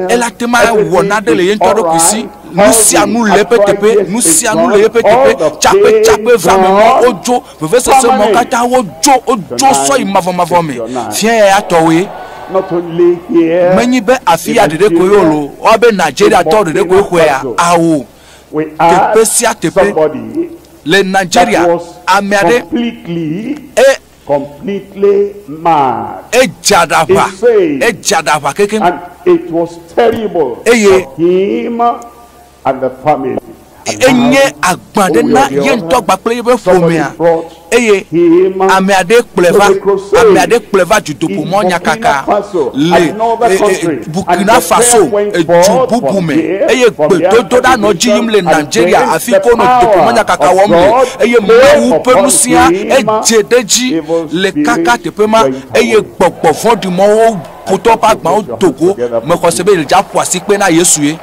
S3: ela te ŋu awɔ naɖe le ye ŋutɔ ɖokui si. Nusianu le eƒe teƒe, nusianu le eƒe teƒe, tsakpetsakpe vea me ma wodzo. Vevesese mɔ katã wodzo wodzo sɔ yi mavɔmavɔ me. Fia ya ya tɔwoe.
S1: Menyi be afi ya
S3: ɖeɖe koe wolo o. Woa be Nigeria tɔ ɖeɖe koe xɔe ya? Ao. Teƒe
S1: sia teƒe
S3: le Nigeria ame aɖe
S1: e edze aɖaʋa edze
S3: aɖaʋa kekeŋ
S1: eye enye
S3: agbã ɖe na ye ŋutɔ kpakple yeƒe ƒomea eye ame aɖee kplɔe va ame aɖee kplɔe va dutoƒomɔ nyakaka le Burkina Faso edu bubu me eye gbedodoɖa nɔ edzi yim le Nigeria afi ke wonɔ dutoƒomɔ nyakaka wɔm le eye Mawu ƒe ŋusẽa edze ɖe edzi le kaka teƒe ma eye gbɔgbɔ vɔ̃ɖi mɔwo ƒotɔ ƒe agbãwo do go mexɔse be ɖe aƒo asikpe na Yesue.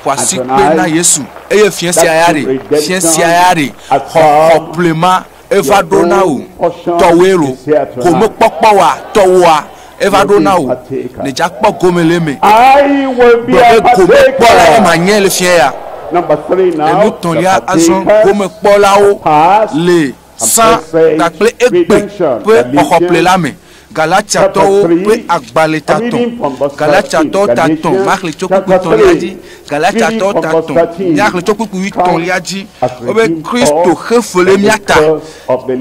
S3: xɔ asikpe na Yesu eye fia sia ya ɖe fia sia ya ɖe xɔ kɔkɔe ma eva ɖo na wò tɔwoe lo ko mekpɔkpɔ wa tɔwoa eva ɖo na wò ne dza kpɔ gome le eme gblɔ
S1: be ko mekpɔ la ye ma nye
S3: le fia ya
S1: enutɔlia azɔ
S3: ko mekpɔ la wo le sã kpakple egbe ƒe xɔxɔƒle la me. Galatiatɔwo ƒe agba le tatɔ̃, Galatiatɔwo tatɔ̃ maxlitsokpukpuitɔ̃lia dzi, Galatiatɔwo tatɔ̃ miaxlitsokpukpuitɔ̃lia dzi, wobe Kristo xe fe le mía ta,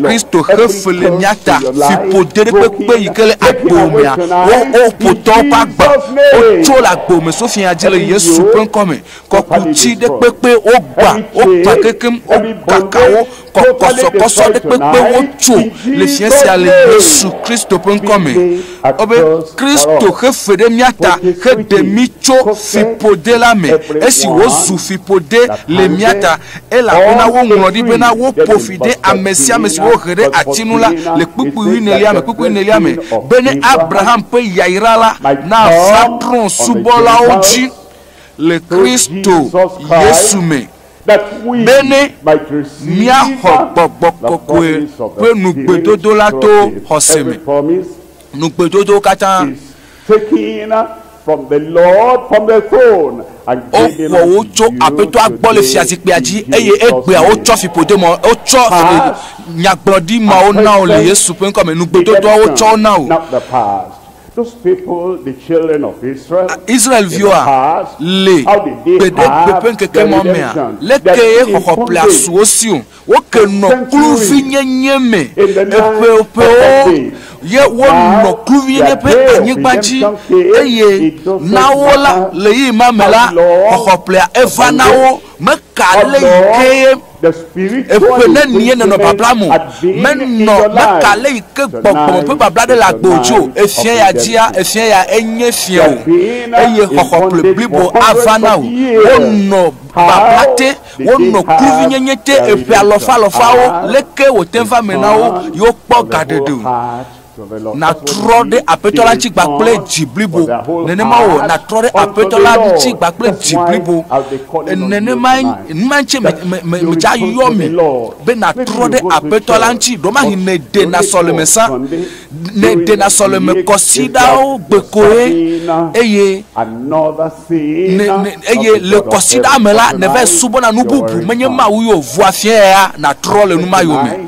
S3: Kristo xe fe le mía ta, fiƒodeɖekpekpe yi ke le agbowòmea, wo, wo ƒotɔwo ƒe agba, wotso le agbowòme so fiaa dzi le Yesu ƒe ŋkɔ me, kɔkuti ɖekpekpe, wogbã, wogbã kekem, wogaka wo, kɔkɔsɔkɔsɔ ɖe kpekpe wo tso le sia sia le Yesu Kristo ƒe ŋkɔ me. Wobe Kristo xe fe ɖe mía ta heɖe mí tso fiƒode la me esi wòzu fiƒode le mía ta, elabena woŋlɔ ɖi bena woƒo fi ɖe ame sia ame si wohe ɖe ati ŋu la le kpukpui enelia me, kpukpui enelia me, be ne Abraham ƒe yayra la nava trɔ̃ subɔlawo dzi le Kristo Yesu me. bene míaxɔ gbɔgbɔ kɔkɔe ƒe nugbedodo la to xɔse me. Nugbedodowo katã.
S1: Woxɔ wo tso Aƒetɔa
S3: gbɔ le fiazikpuia dzi eye egbea wotsɔ fiƒode ma, wotsɔ nyagblɔɖi mawo na wò le Yesu ƒe ŋkɔ me. Nugbedodoa wotsɔ wo na wò.
S1: Israel-viwoa
S3: le gbeɖegbe ƒe ŋkeke ma mea? Le kee xɔxɔ ƒlea su wo si o. Woke nɔ kluvinyenye me eƒeoƒewo ye wonɔ kluvinyenye ƒe anyigba dzi eye na wo la, ɣeyiɣi ma me la, xɔxɔ ƒlea eva na wo. Meka ale yi kee
S1: Eƒe nenie nɔnɔ
S3: babla mo, menɔ meka le yi ke gbɔgbɔme ƒe babla ɖe le agbe o tso efia ya dzia efia ya enye fia o eye xɔxɔkplɔe blibo ava na o. Wonɔ babla te, wonɔ kluvinyenye te eƒe alɔfa alɔfawo, leke wòte va me na wo ye wokpɔ gaɖeɖe o? Nàtrɔ ɖe Aƒetɔ la ŋuti kple dzi blibo. Nenema wɔ nàtrɔ ɖe Aƒetɔ la ŋuti kple dzi blibo. Nenemae numa ŋuti medze ayɔ mi be nàtrɔ ɖe Aƒetɔ la ŋuti. Ɖewomahi nèdena sɔlemesã, nèdena sɔlemekɔsiɖawo gbe koe eye eye le kɔsiɖa me la, nèva subɔna nu bubu menye Mawu ye o. Ŋua fiae ya nàtrɔ le numayome.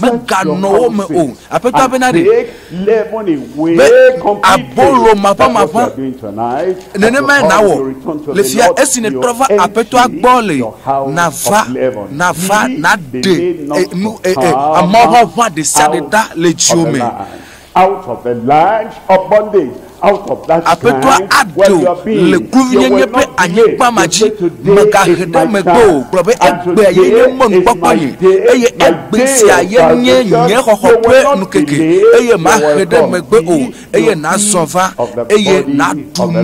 S1: Meganɔ wo me o. Aƒetɔa bena ɖe be abolo maʋamaʋã nenemae nàwɔ le fia esi nètrɔ va Aƒetɔa gbɔ le nàva, nàva, nàɖe nu, amɔʋaʋã ɖesiaɖe ɖa le dziwò me. Aƒetɔa aɖo le kluvinyenye ƒe anyigba ma dzi, mègahe ɖe megbe o, gblɔ be, Egbea ye nye mɔnukpɔkpɔ nye, eye egbe sia ye nye nye xɔxɔ ƒe nukeke, eye mahe ɖe megbe o, eye nàzɔ va, eye nàɖu nu,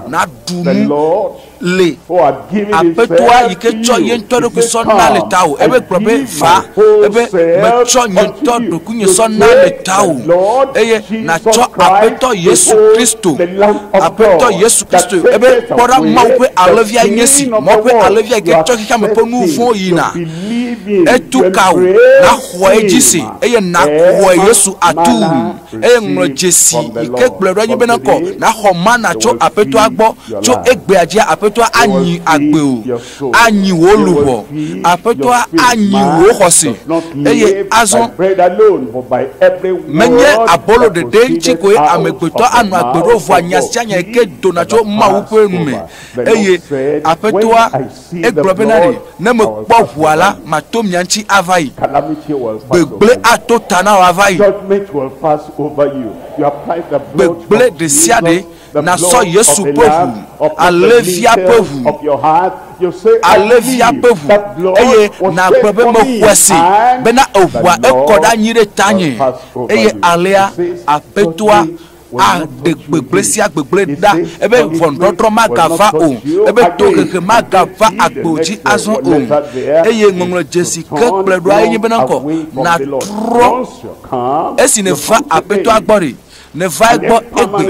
S1: nàɖu nu. le aƒetɔa yi ke tsɔ ye ŋutɔ ɖokui sɔ na le tawò ebe gblɔ be va ebe metsɔ nye ŋutɔ ɖokuinye sɔ na le tawò eye natsɔ aƒetɔ yesu kristo aƒetɔ yesu kristo ebe kpɔ ɖa mawu ƒe alẽvia nye si mɔ ƒe alẽvia yi ke tsɔ xexea me ƒe nu vɔ̃ yina etu ka wò naxɔe dzi se eye naxɔe yesu atu eye ŋlɔ dzesi yi ke gblɔe ɖo anyi bena kɔ naxɔ mana tso Aƒetɔa gbɔ, tso egbea dzia Aƒetɔa anyi agbe o, anyi wò luʋɔ, Aƒetɔa anyi wò xɔse. Eye azɔ menye abolo ɖeɖe ŋuti koe amegbetɔ anɔ agbe ɖo o, vɔa nya sia nya yi ke dona tso Mawu ƒe nu me, eye Aƒetɔa Egblɔ bena, Ɖe ne mekpɔ ʋua la, mato mia ŋuti ava yi. Gbegblẽ ato ta na wò ava yi. Gbegblẽ ɖesiaɖe nasɔ Yesu ƒe ʋu, alẽvia ƒe ʋu, alẽvia ƒe ʋu, eye nàgblɔ be, Mexɔe se bena eʋua ekɔ ɖe anyi ɖe tanye, eye alea, Aƒetɔa, aɖe gbegblẽ sia gbegblẽ ɖa ebe ʋɔnudɔdrɔ̃ magava o, ebe tohehe magava agbo dzi azɔ o. Eye ŋɔŋlɔ dzesi ke kplɔe ɖoa enye bena kɔ nàtrɔ esi nèva Aƒetɔa gbɔ ɖi, nèva egbɔ egbe,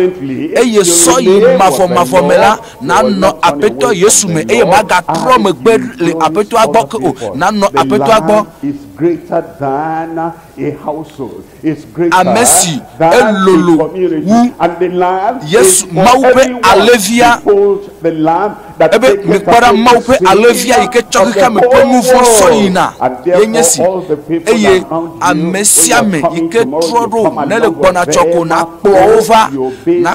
S1: eye sɔ yi mavɔmavɔ me la, nànɔ Aƒetɔ Yesu me eye màgatrɔ megbe le Aƒetɔa gbɔ ke o, nànɔ Aƒetɔa gbɔ. ame si elolo wu Yesu, Mawu ƒe
S3: alẽvia,
S1: ebe mikpɔ ɖa Mawu
S3: ƒe alẽvia yi ke tsɔ xexea me ƒe nu vɔ̃ sɔ yina yenye si, eye ame sia ame yi ke trɔ ɖo nele gbɔna tsɔ ko nakplɔ wo va na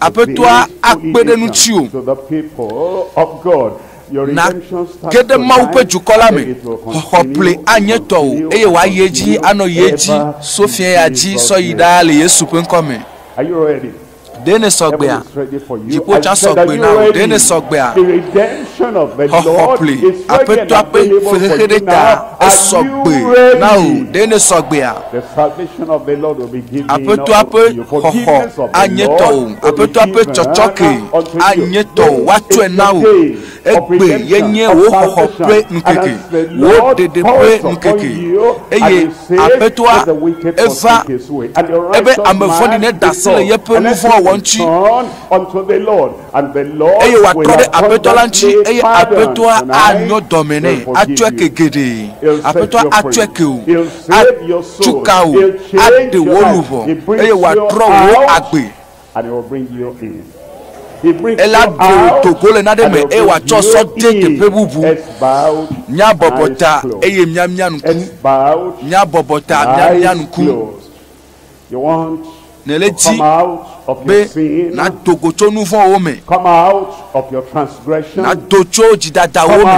S1: Aƒetɔa akpe
S3: ɖe ŋutiwò
S1: nàge ɖe Mawu ƒe dukɔ
S3: la me. Xɔxɔƒle anye tɔwò eye wòayi edzi anɔ yi edzi so fiẽya dzi sɔ yi ɖaa le Yesu ƒe ŋkɔ me.
S1: Ɖe nèsɔ gbea?
S3: Dziƒo tsã sɔ gbe na wò. Ɖe nèsɔ gbea? Xɔxɔƒle, Aƒetɔa ƒe fexexe ɖe ta, esɔ gbe na wò. Ɖe nèsɔ gbea? Aƒetɔa ƒe xɔxɔ anye tɔwò, Aƒetɔa ƒe tsɔtsɔke anye tɔwò, woatsɔe na wò. Egbee yenye wò xɔxɔ ƒe ŋkeke, wò ɖeɖe ƒe ŋkeke, eye Aƒetɔa eva ebe ame vɔ̃ɖi neda asi le yeƒe nu vɔ̃ wɔwɔ ŋuti. eye wòatrɔ ɖe aƒetɔ la ŋuti, eye aƒetɔa anyɔ dɔme nɛ, atsɔe ke geɖe. Aƒetɔa atsɔe ke wò, atu ka wò, aɖe wò luʋɔ, eye wòatrɔ wò agbe. Ele aɖe wò do go le nane me, eye wòatsɔ sɔ de teƒe bubu. Míabɔbɔ ta, eye míamia ŋku. Míabɔbɔ ta, míamia ŋku. Nèle di be nàdo go tso nu vɔ̃wo me.
S1: Nàdo tso
S3: dzidadawo me.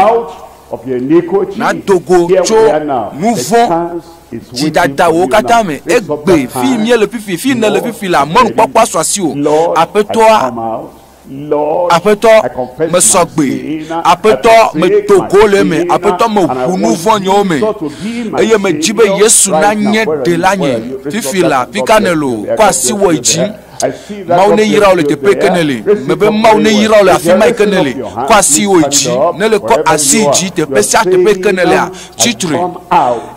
S1: Nàdo go tso
S3: nu vɔ̃ dzidadawo katã me. Egbe fi miele fifi, fi nèle fifi la, mɔnukpɔkpɔa sɔ asiwò. Aƒetɔa, Aƒetɔ,
S1: mesɔ gbe. Aƒetɔ, medo go le eme. Aƒetɔ, meʋu nu vɔ̃ nyewo me. Eye medzi be Yesu nanye ɖela nye. Fifi la, fi ka nèle o? Kɔ asi wɔe dzi. Mawu neyra wò le teƒe ke nèle. Mebe Mawu neyra wò le afi ma yi ke nèle. Kɔ asi wɔe dzi. Ne le kɔ asi dzi teƒe sia teƒe yi ke nèlea, tsi tre.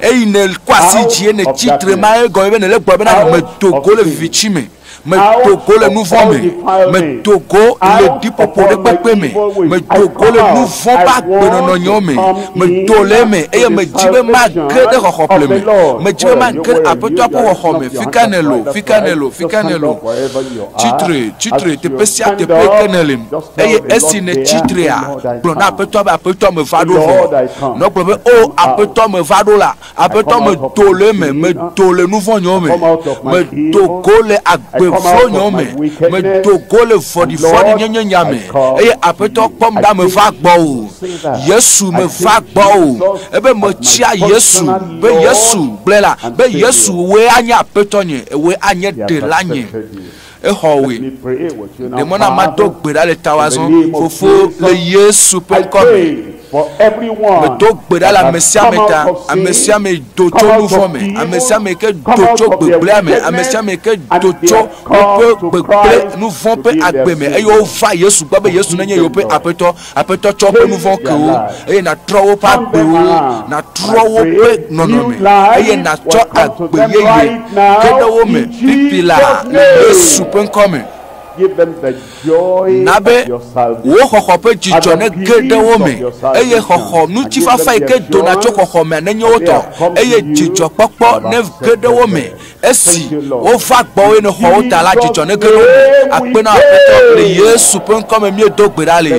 S1: Eyi ne kɔ asi dzi ye nètsi tre ma, egɔme be nèle gbɔ bena medo go le viviti me. medo go le nu vɔ̃ me medo go le ɖiƒoƒo ɖe kpekpe me medo go le nu vɔ̃ ƒe agbenɔnɔnyewo me medo le eme eye medzi be mage ɖe xɔxɔƒle me medzi be mage ɖe aƒetɔa ƒe xɔxɔ me fi ka ne lo fi ka ne lo fi ka ne lo tsitre tsitre teƒe sia teƒe ke ne le eye esi ne tsitrea gblɔ na aƒetɔa be aƒetɔa me va ɖo vɔ nɔgblɔ be o oh, aƒetɔa me va ɖo la Aƒetɔ medo le eme, medo le nu vɔ̃ nyɔ me, medo go le agbe vlo nyɔ me, medo go le vɔɖivɔɖi nyenye nya me, eye Aƒetɔ kpɔm ɖa meva gbɔwò. Yesu meva gbɔwò, ebe metsia Yesu, be Yesu gblɔe la, be Yesu wòe anye Aƒetɔ nye, wòe anye Ɖela nye. Exɔ wòe. Ɖe mɔ na mado gbe ɖa le tawò azɔ, Fofo, le Yesu ƒe ŋkɔ me. Medo gbe ɖa le amesiame ta, amesiame do tso nuvɔ̃ me, amesiame ke do tso gbegblẽa me, amesiame ke do tso woƒe gbegblẽ nuvɔ̃ ƒe agbe me, eye wova Yesu gbɔ be Yesu nenye yewoƒe Aƒetɔ. Aƒetɔ tsɔ woƒe nu vɔ̃ ke wo, eye nàtrɔ woƒe agbewo, nàtrɔ woƒe nɔnɔme, eye nàtsɔ agbe yeye ke ɖe wo me ƒiƒi laa le Yesu ƒe ŋkɔ me.
S4: Na be
S1: wò xɔxɔ ƒe dzidzɔ nege ɖe wo me, eye xɔxɔ ŋutifafa yi ke dona tso xɔxɔ mea nenye wo tɔ, eye dzidzɔkpɔkpɔ nege ɖe wo me. Esi wova gbɔ eye nexɔ wo ta la, dzidzɔ nege ɖe wo akpe na Aƒetɔ le Yesu ƒe ŋkɔ me míedo gbe ɖa le.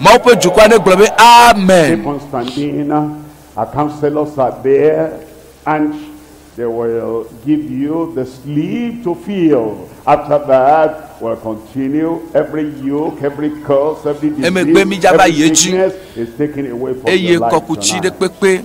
S1: Mawu ƒe dukɔa negblɔ be amen. They
S4: will give you the sleep to feel. After that, we'll continue every yoke, every curse, every disease, every sickness is taken away from your life tonight.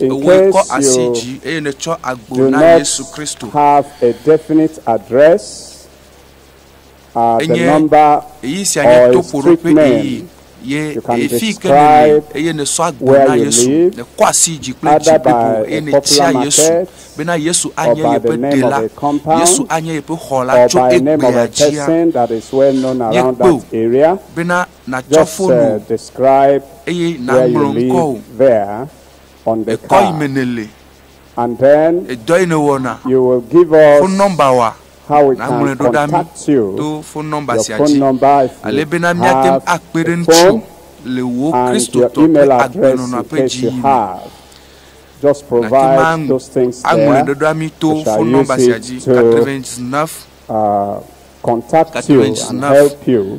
S5: Ewòe kɔ asi dzi eye nètsɔ agbo na Yesu Kristo. Enye ɣeyiɣi sia nye to ƒoɖo ƒe ɣeyiɣi ye eye fii ke nèli eye nèsɔ agbo na Yesu, nèkɔ asi dzi kple dzi blibo eye nètia Yesu bena Yesu anye yeƒe Ɖela, Yesu anye yeƒe xɔla tso egbea dzia. Míekpɔe bena natsɔ fon wò eye naŋlɔ ŋkɔwò. Èkɔ yi me nèle, edɔ yi nèwɔna, fon nɔmba wa, naŋlɔe ɖo ɖa mí to fon nɔmba sia dzi ale bena míate ŋu akpe ɖe ŋutiwò le wò Kristotɔ ƒe agbenɔnɔa ƒe dziyiyi me. Nàte ŋu aŋlɔe ɖe ɖa mí to fon nɔmba sia dzi, 99 99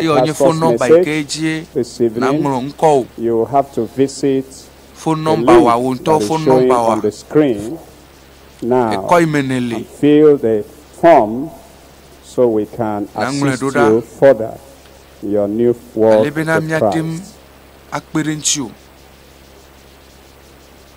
S5: Eyɔ nye fon nɔmba yi ke dzie nàŋlɔ ŋkɔwò. Fon nɔmbawòa, wò ŋutɔ fon nɔmbawòa, èkɔ yi me nɛ li. Nàŋlɔe ɖo ɖa ale bena míate ŋu akpe ɖe ŋutiwò.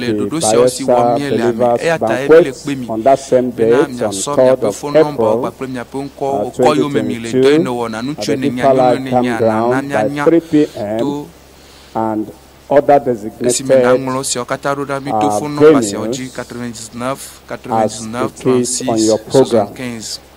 S5: le ɖoɖo siawo si wɔm míele ame. Eya tae míele kpe mi bena miasɔ miaƒe fonɔmbawo kpakple miaƒe ŋkɔwo kɔ yome mi le dɔ yi nèwɔna, ŋutsue nènyea, nyɔnue nènyea, na na míanya to esi me nàŋlɔ esiawo katã ɖo na mí to fonɔmba siawo dzi, 99 99 36 75.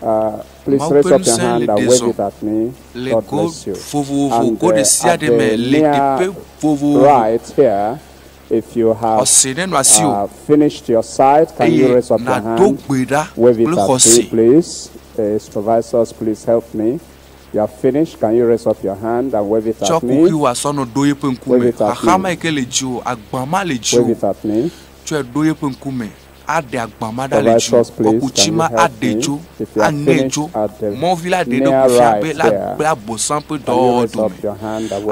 S5: Mawu ƒe ŋusẽ le ɖe zɔ le go vovovo, go ɖe sia ɖe me le teƒe vovovo. Xɔse nenɔ asiwò eye nàdo gbe ɖa kple xɔse. Tsɔ kuxi wò asɔ nɔ ɖo yeƒe ŋkume. Xaxa ma yi ke le dziwò, agba ma le dziwò, tsɔe ɖo yeƒe ŋkume. aɖe agba ma ɖa le dziwò, kɔku tsi ma aɖe dzo, aŋe dzo. Mɔvi la ɖe eɖokui fia be la gbe Abosam ƒe dɔwɔwɔ dome.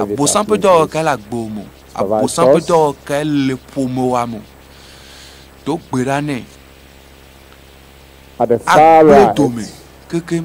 S5: Abosam ƒe dɔwɔwɔ kae le agbewo me o? Abosam ƒe dɔwɔwɔ kae le ƒomewoa me o? Do gbe ɖa nɛ. Agbe dome kekeŋ.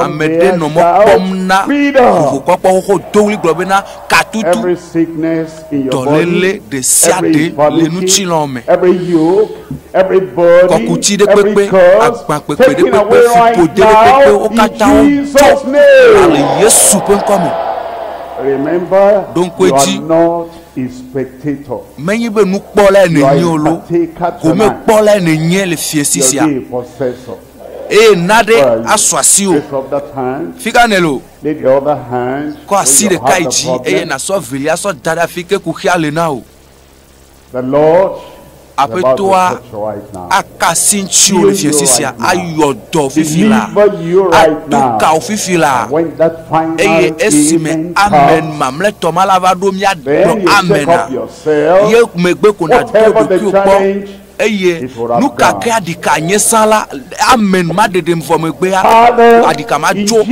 S4: Ame ɖe nɔ mɔ kpɔm na vovokpɔkpɔ xoxo do ɣli gblɔ bena, Katutu, dɔléle ɖe sia ɖe le ŋutilɔ me, kɔkuti ɖe kpekpe, agbankpekpe ɖe kpekpe, ƒuƒode ɖe kpekpe, wo katã wodzo va le Yesu ƒe ŋkɔ me. Ɖo ŋku edzi, spectator. Menye be nukpɔlae You are nènye a o loo, partaker ko tonight. mekpɔlae nènye le fiesi Your sia. day possessor. Eye na
S1: ɖe Where are you? asu asiwò. Lift up that hand. Fi ka nèle o? Lay the other hand
S4: Kɔ where asi you ɖeka have yi the
S1: dzi eye problem. nàsɔ evelia sɔ da ɖe afi ke kuxia le na wò. The
S4: Lord Aƒetɔa
S1: aka asi ŋutiwò le fiẽsi sia ayɔ dɔ fifi la, aɖo ka wò fifi la, eye esime amen mamlɛtɔ ma la va ɖo mía gblɔ amena, ye megbe ko nàdo ɖokuiwò kpɔ, eye nuka ke aɖika anyesã la, amen ma ɖeɖem vɔ megbea, aɖika matso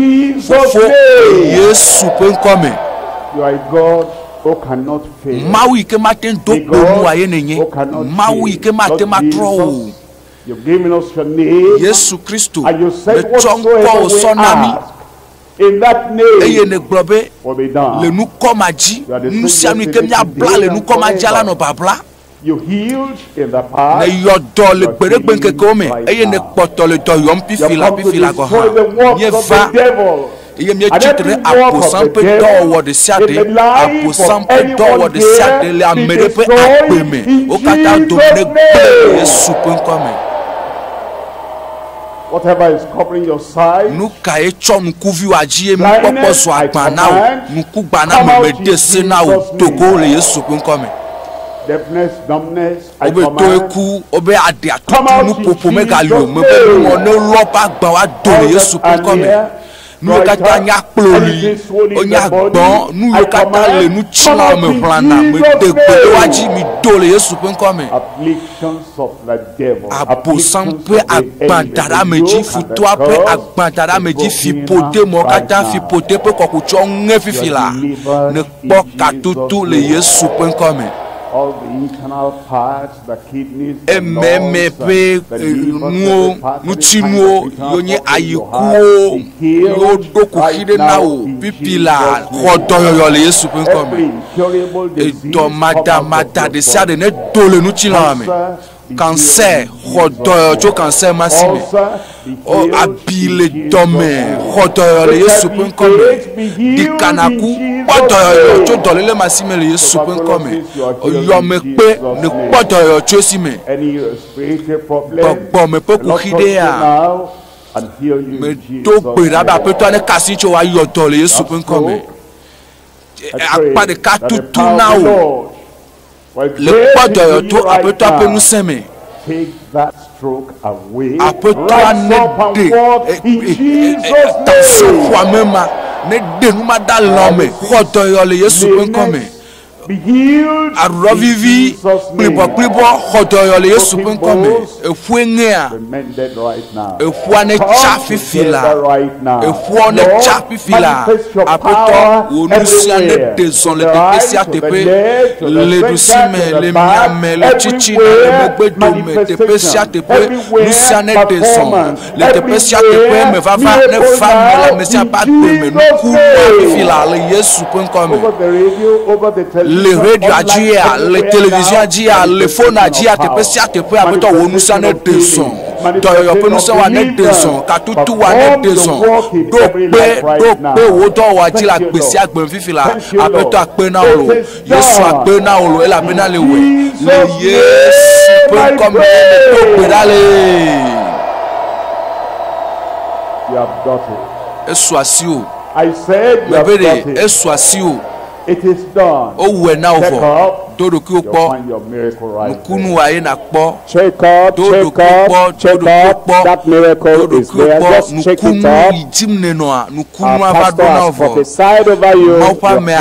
S1: Fofo le Yesu ƒe ŋkɔ me.
S4: Mawu yi ke mate ŋu
S1: do gbe nu wòa ye nènye. Mawu yi ke mate ŋu atrɔ wò
S4: o. Yesu Kristo,
S1: nètsɔ
S4: ŋkɔ wò sɔ
S1: na mí
S4: eye nègblɔ be,
S1: Le
S4: nukɔ ma dzi,
S1: nu sia nu yi ke míabla le nukɔ ma dzia, lanɔ babla.
S4: Nèyɔ dɔ le
S1: gbeɖegbe ŋkekewo me eye nèkpɔtɔ le dɔ yɔm fifila fifila gɔ̃ hã. Míeva, eye míetsi tre ɖe Abosam ƒe dɔwɔwɔ ɖe sia ɖe, Abosam ƒe dɔwɔwɔ ɖe sia ɖe le ame ɖe ƒe agbe me. Wo katã dome negblẽ le Yesu ƒe ŋkɔa me.
S4: Whatever is covering your sight. Nu kae tsɔ
S1: ŋkuvi wò adzi ye nukpɔkpɔ zu agbã na wò? Ŋkugbaname meɖe se na wò do go le Yesu ƒe ŋkɔ me.
S4: Wobe tɔe ku,
S1: wobe aɖe atutu nuƒoƒo megali o, mebe nuŋɔ ne lɔ ƒe agbã woado le Yesu ƒe ŋkɔ me. nuwo katã nya kploli wonya gbɔ nuwo katã le nu tsɔna me ʋlana me de gbedowa dzi mi do le yesu ƒe ŋkɔ me
S4: abosam ƒe
S1: agbadara me dzi futoa ƒe agbadara me dzi fi pote mɔ katã fi pote ƒe kɔkutsɔ ŋe fifi la ne kpɔ katutu le yesu ƒe ŋkɔ me
S4: ememe ƒe nuwo
S1: ŋutinuwo yonye ayikuwo yiwo ɖo kuxi ɖe na wò pipi la xɔ dɔyɔyɔ le yesu ƒe ŋkɔ me edɔ madamada ɖe sia ɖe ne do le ŋutilã me kansɛ xɔ dɔyɔyɔ tso kansɛ ma si me. O abi le dɔme xɔ dɔyɔ le Yesu ƒe ŋkɔ me. Ɖika nàku kpɔ dɔyɔyɔ tso dɔléle ma si me le Yesu ƒe ŋkɔ me. Yɔme kpe le kpɔ dɔyɔyɔ tso esi me. Gbɔgbɔme ƒe kuxi ɖe ya. Medo gbe ɖa be aƒetɔa ne ka asi tso wòayɔ dɔ le Yesu ƒe ŋkɔ me. Akpa ɖeka tutu na wò. Le kpɔ dɔyɔ to Aƒetɔa ƒe ŋusẽ me.
S4: Aƒetɔa
S1: neɖe tansɔƒoame ma, neɖe nu ma da le ame me. Kpɔ dɔyɔ le Yesu ƒe ŋkɔ me.
S4: Aɖuɖɔ vivi
S1: kplibɔkplibɔ, xɔ dɔyɔ le Yesu ƒe ŋkɔ me. Eƒue ŋea,
S4: eƒua ne tsa
S1: fifi la, eƒua ne tsa fifi la, aƒetɔ wò nu sia ne ɖe zɔ le teƒe sia teƒe, le ɖusi me, le miame, le tsitsi me, le megbe dome, teƒe sia teƒe, nu sia ne ɖe zɔ. le teƒe sia teƒe me vava ne va me le Mesia ƒe agbe me nuku fi la le Yesu ƒe ŋkɔ me. Le radioa dzia, le televizia dzia, le fona dzia, teƒe sia teƒe aƒetɔ wò ŋusẽ ne ɖe zɔ. Dɔyɔyɔ ƒe ŋusẽ wa ne ɖe zɔ, katutu wa ne ɖe zɔ. Ɖo kpe, ɖo kpe wò dɔwɔa dzi le agbe sia agbe fifi la, aƒetɔ akpe na wò. Yesu akpe na wò elabena le wòe. Le Yesu ƒe ŋkɔ me do gbe ɖa le.
S4: Esu asi o. Mebe ɖe esu asi o. Wowɔe na wò vɔ.
S1: Do ɖokuiwò kpɔ. Nukunu wa ye nakpɔ. Do ɖokuiwò kpɔ. Do ɖokuiwò kpɔ.
S5: Do ɖokuiwò kpɔ. Nukunu yi dzim
S1: nenɔa. Nukunua va ɖo na
S5: wò vɔ.
S1: Mawu
S5: ƒe
S1: amea.